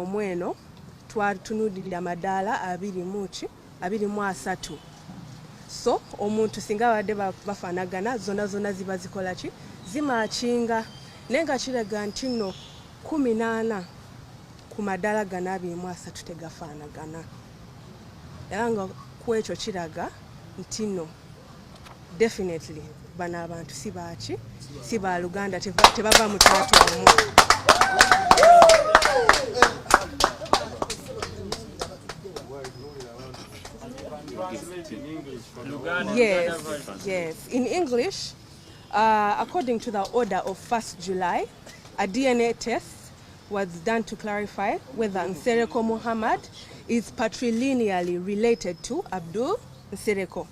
omweno twatunudirira amadaala abiri muki abiri mu asatu so omuntu singa abadde bafanagana zona zona ziba zikola ki zimakinga naye nga kiraga nti no kumi naana ku madaala gana abiri mu asatu tegafanagana era nga kwekyo kiraga nti no Definitely bano abantu si baaki si ba luganda tebava mu twatwamu Yes, yes. In English, uh, according to the order of 1st July, a DNA test was done to clarify whether Nsereko Muhammad is patrilineally related to Abdul Nsereko.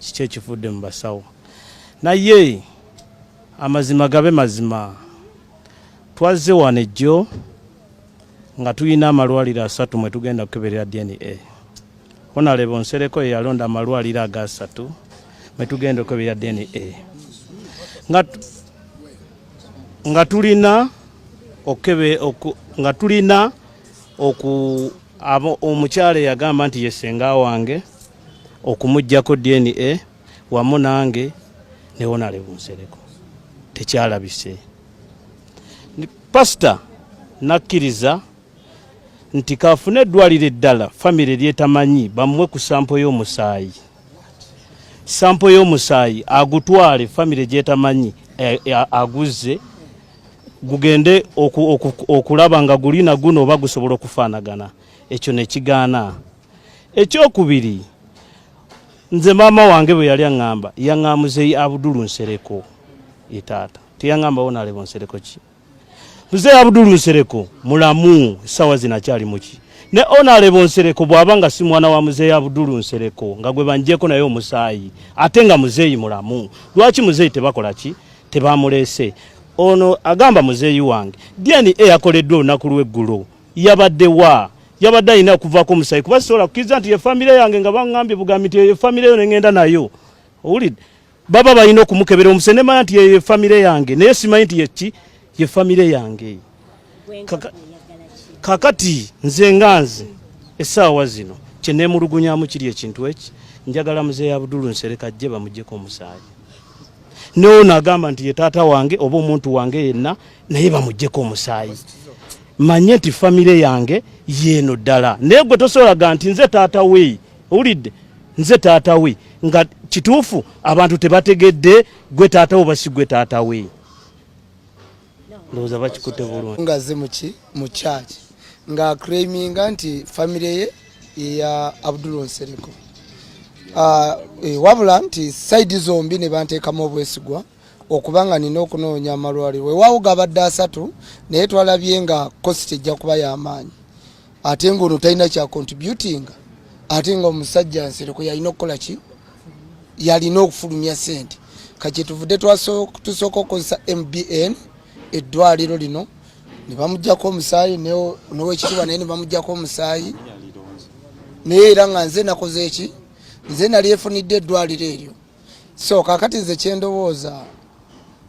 kiki ekivudde mu basawo naye amazima gabe mazima twazze wano ejjo nga tulina amalwaliro asatu mwe tugenda kukeberera dna honalebo nsereko yeyalonda amalwaliro agasatu mwe tugenda okukeberera dna nga tulina okebe nga tulina oku omukyala eyagamba nti yesenga wange okumujjako DNA wamu nange newonale bunsereko tekyalabise pasita nakkiriza nti kaafune eddwaliro eddala famire lyetamanyi bamuwe ku sampo y'omusaayi sampo y'omusaayi agutwale famire gyetamanyi eh, eh, aguzze gugende okulaba nga gulina guno oba gusobola okufaanagana ekyo nekigaana ekyokubiri nze maama wange bwe yali aŋŋamba yaŋŋamuzeyi abudulu nsereko ye taata teyaŋŋambawo nalebo nsereko ki muzeeyi abudulu nsereko mulamu essaawa zino akyali muki ne onalebo nsereko bw'aba nga si mwana wa muzeeyi abudulu nsereko nga gwe banjeeko naye omusaayi ate nga muzeeyi mulamu lwaki muzeeyi tebakola ki tebamuleese ono agamba muzeeyi wange dna yakoleddwa olunaku lw'eggulo yabadde wa yabadde alina okuvaako omusayi kuba sisobola kukkiriza nti efamire yange nga baŋambye bugambi nti eyo efamire yo nengenda nayo owulidde baba balina okumukebera omuse nemanya nti eyo efamire yange naye simanyi nti yeki yefamire yange kakati nze nga nze essaawa zino kyenemulugunyamu kiri ekintu eki njagala muzeeyi abudulu nsereka jje bamugyeko omusaayi neono agamba nti ye taata wange oba omuntu wange yenna naye bamujjeko omusaayi manye nti famire yange yeeno ddala naye gwe tosolaga nti nze taata we owulidde nze taata we nga kituufu abantu tebategedde gwe taata we basi gwe taata we ndowooza bakikute bulungi nga ze muki mu church nga creaminga nti famire ye yeya abdul nsereko uh, ah, e, wabula nti saidi zombi ne banteekamu obwesigwa okuba nga nina okunoonya amalwaliro wewaawo gabadde asatu naye twalabye nga kositi ejja kuba yamaanyi ate nga ono talina kya contributinga ate nga omusajja nsereko yalina okukola ki yalina okufulumya sente kakyetuvude tusooka okukozesa mbn eddwaliro lino nebamugjako omusaayi nowekitibwa naye nebamugjako omusaayi naye era nga nze nakoze eki nze nali efunidde eddwaliro eryo so kakati nze kyendowooza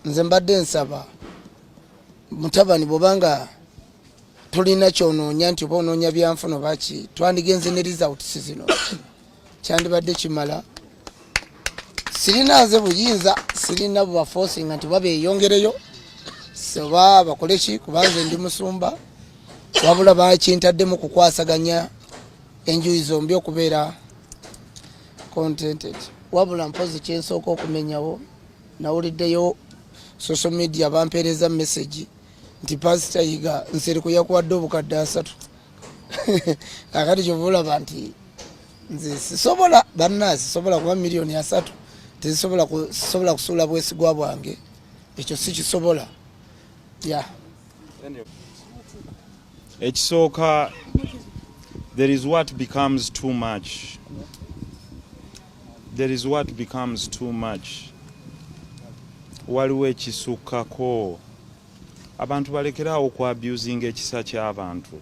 nze mbadde nsaba mutabani bwobanga tulina kyonoonya nti oba onoonya byanfuno baki twandigenze ne results zino kyandibadde kimala sirina nze buyinza sirina bubafosinga nti babeyongereyo oba bakole ki kubanze ndi musumba wabula bakintaddemu kukwasaganya enjuyi zombi okubeera contented wabula mpozi kyensooka okumenyawo nawuliddeyo social media bampeereza message nti pasita yiga nseri kuyakuwadde obukadde asatu akati kyova olaba nti nze sisobola banna sisobola kuba miliyoni asatu tezisobola sisobola kusuula bwesigwa bwange ekyo sikisobola ya ekisooka there is what becomes too much there is what becomes too much waliwo ekisukkako abantu balekeraawo ku abusing ekisa ky'abantu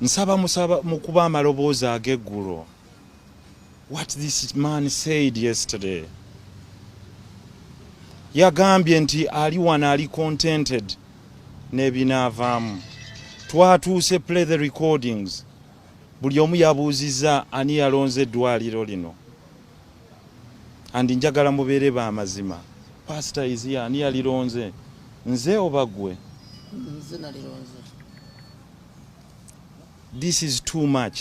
nsaba musaba mukuba amaloboozi ag'eggulo what this man said yesterday yagambye nti ali wano ali contented n'ebinaavaamu twatuuse play the recordings buli omu yabuuzizza ani yalonze eddwaliro lino andi njagala mubeere ba mazima pasita iziya ani yalironze nze oba gwe this is too much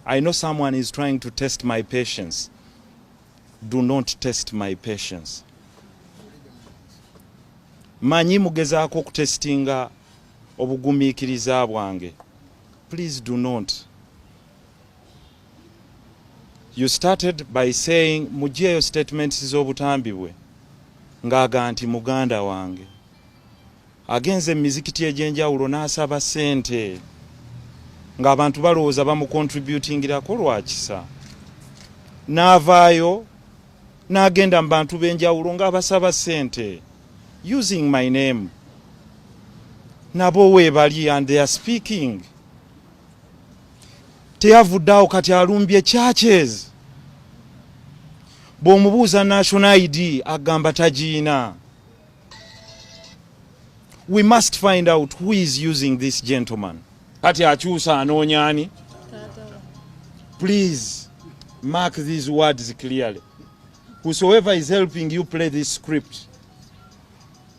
i know someone is trying to test my patience do not test my patience manyi mugezaako okutesitinga obugumiikiriza bwange please do not You started by saying mujeeyo statements z'obutambi bwe ng'aga nti muganda wange agenze mu mizikiti egy'enjawulo n'asaba ssente ng'abantu balowooza bamukontributingirako lwa kisa n'avaayo n'agenda mu bantu b'enjawulo ng'abasaba ssente using my name nabo weebali and they are speaking teyavudde awo kati alumbye churches bwomubuuza national id agamba tagiina we must find out who is using this gentleman kati akyusa anoonya ani please mark these words clearly whosoever is helping you play this script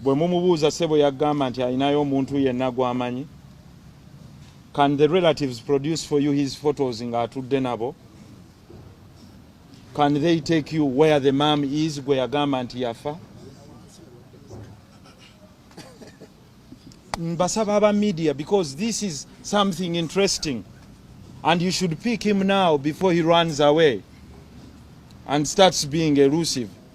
bwe mumubuuza sebo yagamba nti alinayo omuntu yenna gwamanyi can the relatives produce for you his photos nga atudde nabo can they take you where the mam is gwe yagamba nti yafa mbasaba aba media because this is something interesting and you should pick him now before he runs away and starts being elusive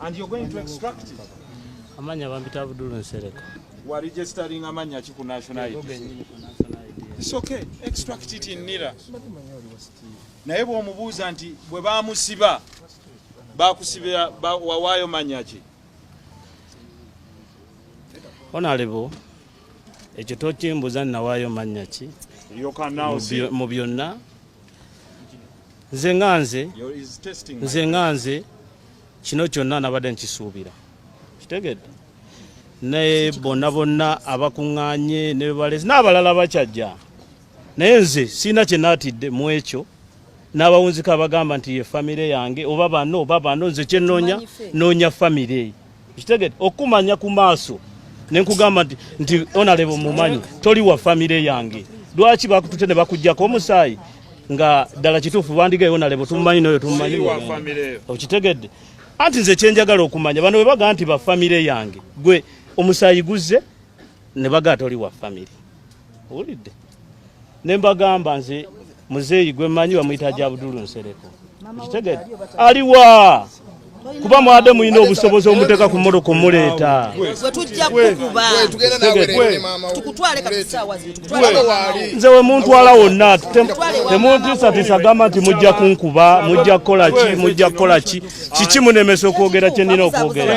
And you're going to extract it. Amanya bambita Abdul Nsereko. Wa registering amanya ki ku national ID. It's okay. Extract it in Nira. Naye bw'omubuuza nti bwe bamusiba bakusibira wawaayo manya ki? Honorable, ekyo tokimbuza nawaayo manya ki? Mu byonna nze nga nze nze nga nze kino kyonna nabadde nkisuubira kitegedde naye bonna bonna abakuŋŋaanye ne bebalezi n'abalala bakyajja naye nze sirina kye naatidde mu ekyo n'abawunzika abagamba nti ye famire yange oba bano oba bano nze kye nnoonya nnoonya famire eyo kitegede okumanya ku maaso nenkugamba nti nti onalebo mumanyi toli wa famire yange lwaki bakutute ne bakujjako omusaayi nga ddala kituufu bandigayo onalebo tumumanyi noyo tumumanyi okitegedde anti nze kyenjagala okumanya bano bwe bagaa nti ba famire yange gwe omusaayi guzze ne bagaa toli wa family owulidde ne mbagamba nze muzeeyi gwe mmanyi bamuyita gya budulu nsereko okitegedde aliwa kuba mwade mulina obusobozi omuteeka ku moto kumuleeta nze wemuntwala wonna temuntisatisa gamba nti mujja kunkuba mujja kukola ki mujja kukola ki kiki munemesa okwogera kyenina okwogera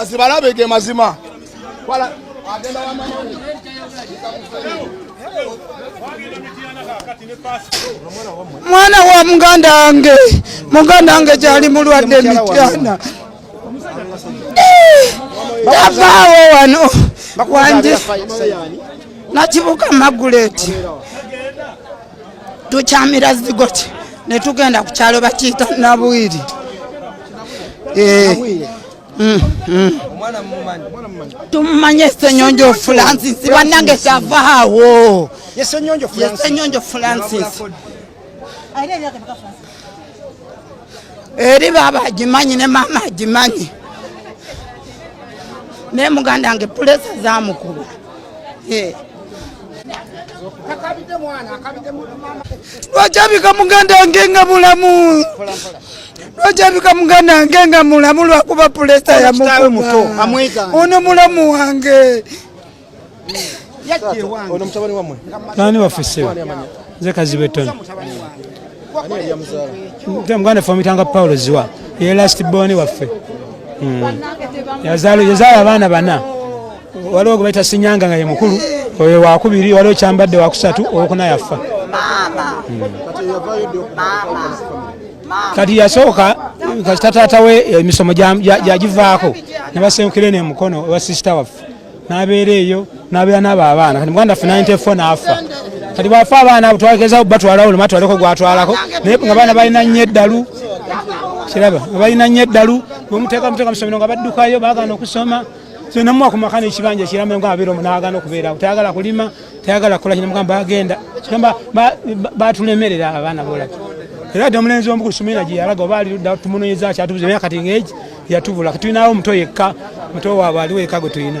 azibalabe ge mazima mwana wa muganda wange muganda wange gyali mulwadde emityana tavaawo wano wanje nakibuka maguleti tukyamira zigoti ne tugenda ku kyalo bakiyita nabwiri eh. mm, mm. tumumanye esenyonjo francis banange kyavaawo yesenyonjo francis eri baaba agimanyi ne maama agimanyi naye muganda nge pulesa zamukuba eh. lwaki abika muganda wange nga mulamu lwaki abika muganda wange nga mulamu lwakuba pulesa yamukuba ono mulamu wange nani wafise nze kazibe tony muganda famitanga paulo ziwa ye last born waffe hmm. yazaala abaana bana waliwo gwe bayita sinyanga nga ye mukulu oyo wakubiri waliwo kyambadde wakusatu owokuna yaffa kati yasooka kasita taata we emisomo gyagivaako nebasengukire ne mukono owa sisita waffe nabeera eyo nabeera nabo abaana kati muganda ffe 94 naafa kati bwafa abaana twagezao batwalawo luma twaleko gwatwalako naye nga baana balina nnyo eddalu kiraba nga balina nnyo eddalu bwemuteeka muteeka musomero nga baddukayo bagana okusoma kyenamuwa ku maka nekibanja kiramba nga abeera omunagana okubeerawo tayagala kulima tayagala kukola kinamugamba bagenda kigamba batulemerera abaana bolaga era dde omulenzi omu ku sumina gye yalaga oba ali ludda tumunoyeza akyatubuza emyaka kati ngaegi yatubula katulinawo omuto yekka muto waabwe aliwo yekka gwe tulina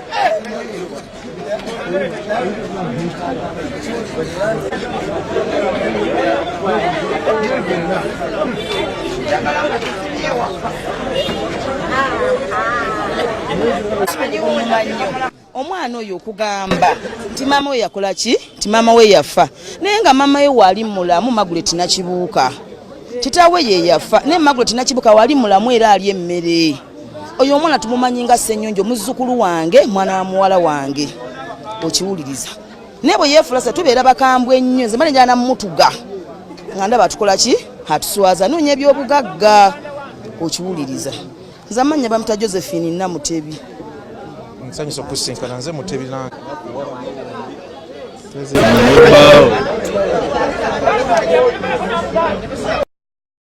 omwana oyo okugamba nti maama we yakola ki nti maama we yafa naye nga maama we waali mulamu magule tinakibuuka kitaawe ye yafa naye magule tinakibuuka waali mulamu era ali emmere oyo omwana tumumanyi nga ssenyonjo muzzukulu wange mwana wa muwala wange okiwuliriza naye bwe yeefula se tubeera bakambwe ennyo nze mane njala namutuga nga ndaba atukola ki atuswaza noonya ebyobugagga okiwuliriza nze amannya bamuta josephine namutebi nsanyusa okusinkana nze mutebi nange Thank you.